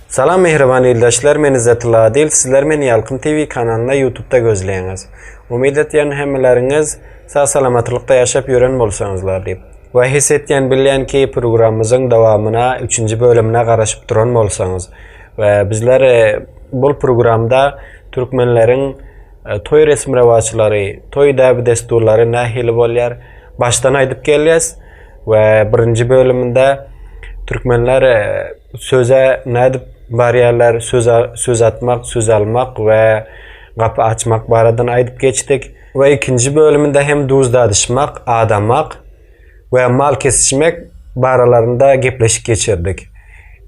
Salam mähriban ildeşler men Izzetilla Adil sizler meni Ýalkym TV kanalynda ýutubda gözleýäňiz. Umyt etýän hemmeleriňiz sag salamatlykda ýaşap ýören bolsaňyzlar diýip. We his etýän bilýän ki programmyzyň dowamyna üçünji bölümine garaşyp duran bolsaňyz. We bizler bul programda türkmenleriň toý resmi rewaçlary toý däbi dessurlary nähili bolýar başdan aýdyp gelýäs. We birinji bölüminde türkmenler Söze nädip barýarlar, söze söz atmak, söz almak we gapy açmak baradan aýdyp geçdik. We ikinji bölüminde hem duz dadyşmak, adamak we mal kesişmek baralarynda gepleşik geçirdik.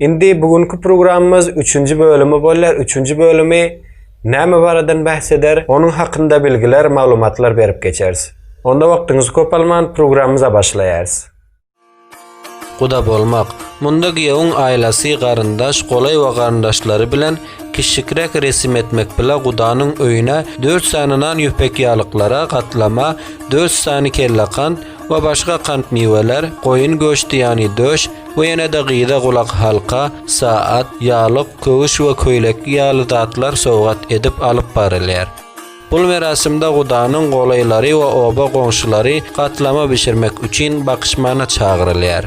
Indi bu günki programmamyz üçünji bölümi bolýar. Üçünji bölümi näme baradan bäs eder, onuň hakynda bilgiler, maglumatlar berip geçeris. Onda wagtyňyzy köp alman programmamyza başlaýarys. Guda bolmak, munda giýewiň aýlasy, garyndaş, golaý we garyndaşlary bilen kişikräk resim etmek bile gudanyň öýüne dört sany nan ýüpekýalyklara, gatlama, dört sany kellekant we başga kant-miweler, goýun göşdi ýany döş we ýene-de gyza gulakhalka, saat, ýalyk, köwüş we köýlek ýaly zatlar sowgat edip alyp barylýar. Bul merasimde Gudanyň golaýlary we oba goňşulary gatlama bişirmek üçin bakyşmana çagyrylýar.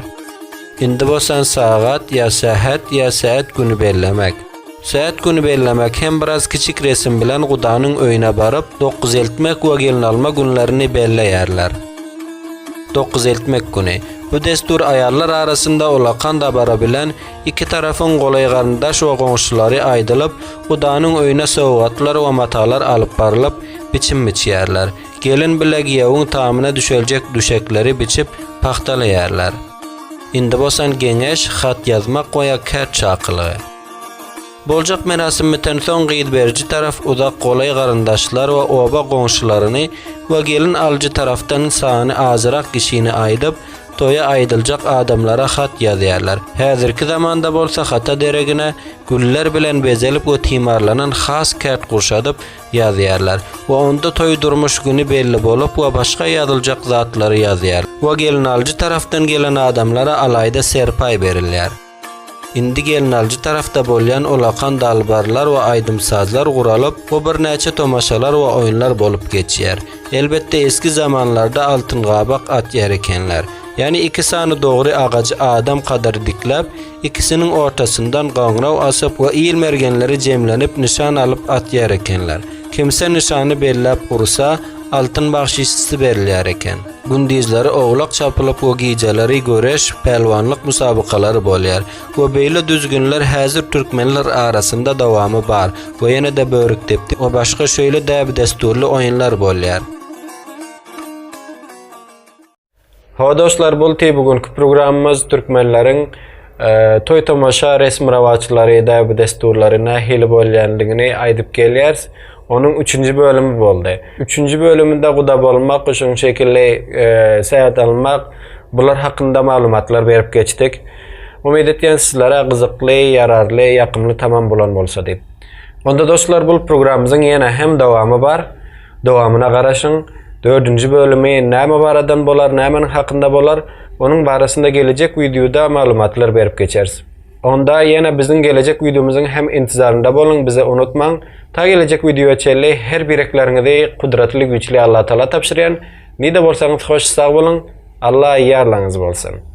Indi bosan sagat ýa sähet ýa säet güni bellemek. Säet güni bellemek hem biraz kiçik resim bilen Gudanyň öýüne baryp, dokuz eltmek we gelin alma günlerini belleýärler. Dokuz eltmek güni. Bu dessur aýallar arasynda ulakan dabara bilen, Iki tarapyň golaý garyndaş we goňşulary aýdylyp, gudanyň öýüne sowgatlar we matalar alyp barylyp, biçim biçýärler. Gelin bile giýewiň tamyna düşeljek düşekleri biçip, pagtalaýarlar. Indi bosan geňeş, hat ýazmak we-ýa kärt çakylygy. Boljak merasim bitensoň gyz beriji tarap uzak golaý garyndaşlar we oba goňşularyny we gelin alyjy tarapdan sany azrak kişini aýdyp, toýa aýdyljak adamlara hat ýazýarlar. Häzirki zamanda bolsa hata deregine güller bilen bezelip we timarlanan has kärt gurşadyp ýazýarlar we onda toý durmuş güni belli bolup we başga ýazyljak zatlary ýazýarlar we gelinalyjy tarapdan gelen adamlara alaýda serpaý berilýär. Indi gelnaljy tarapda bolýan olakan dalbarlar we aýdym-sazlar guralyp, bu birnäçe tomaşalar we oýunlar bolup geçýär. Elbetde esgi zamanlarda altyn gabak atýar ekenler. Ýany iki sany dogry agajy adam kadar dikläp, ikisiniň ortasyndan goňraw asyp we il mergenleri jemlenip nyşan alyp atýar ekenler. Kimse nyşany belläp ursa, altyn bagşyşysy berilýär eken. Gündizleri oglak çapylyk we gijeleri göreş, pälwanlyk musabakalary bolýar we beýle düzgünler häzir türkmenler arasynda dowamy bar we ýene-de börükdepdi we başga şeýle däbi-dessurly oýunlar bolýar. Hawa dostlar, bolty bu günki programmamyz türkmenleriň Toý-tomaşa, resmi-rowaçlary, däbi-dessurlary nähili bolýandygyny aýdyp gelýäris. Onuň üçünji bölümi boldy. Üçünji bölüminde guda bolmak, şunuň şekilli sähet almak, bular hakynda maglumatlar berip geçdik. Umyt edýän sizlere gyzykly, ýararly, ýakymly tamam bolan bolsa diýip. Onda dostlar bul programymyzyň ýene hem dowamy bar. Dowamyna garaşyň, dördünji bölümi näme baradan bolar nämeniň hakynda bolar onuň barasynda gelejek wideoda maglumatlar berip geçeris. Onda ýene biziň gelejek wideomyzyň hem intizarynda boluň bizi unutmaň, ta gelejek wideoya çenli her birekleriňizi Kudratly Güýçli Allatagala tabşyrýan, nide bolsaňyz hoş sag boluň, Alla ýarlaňyz bolsun.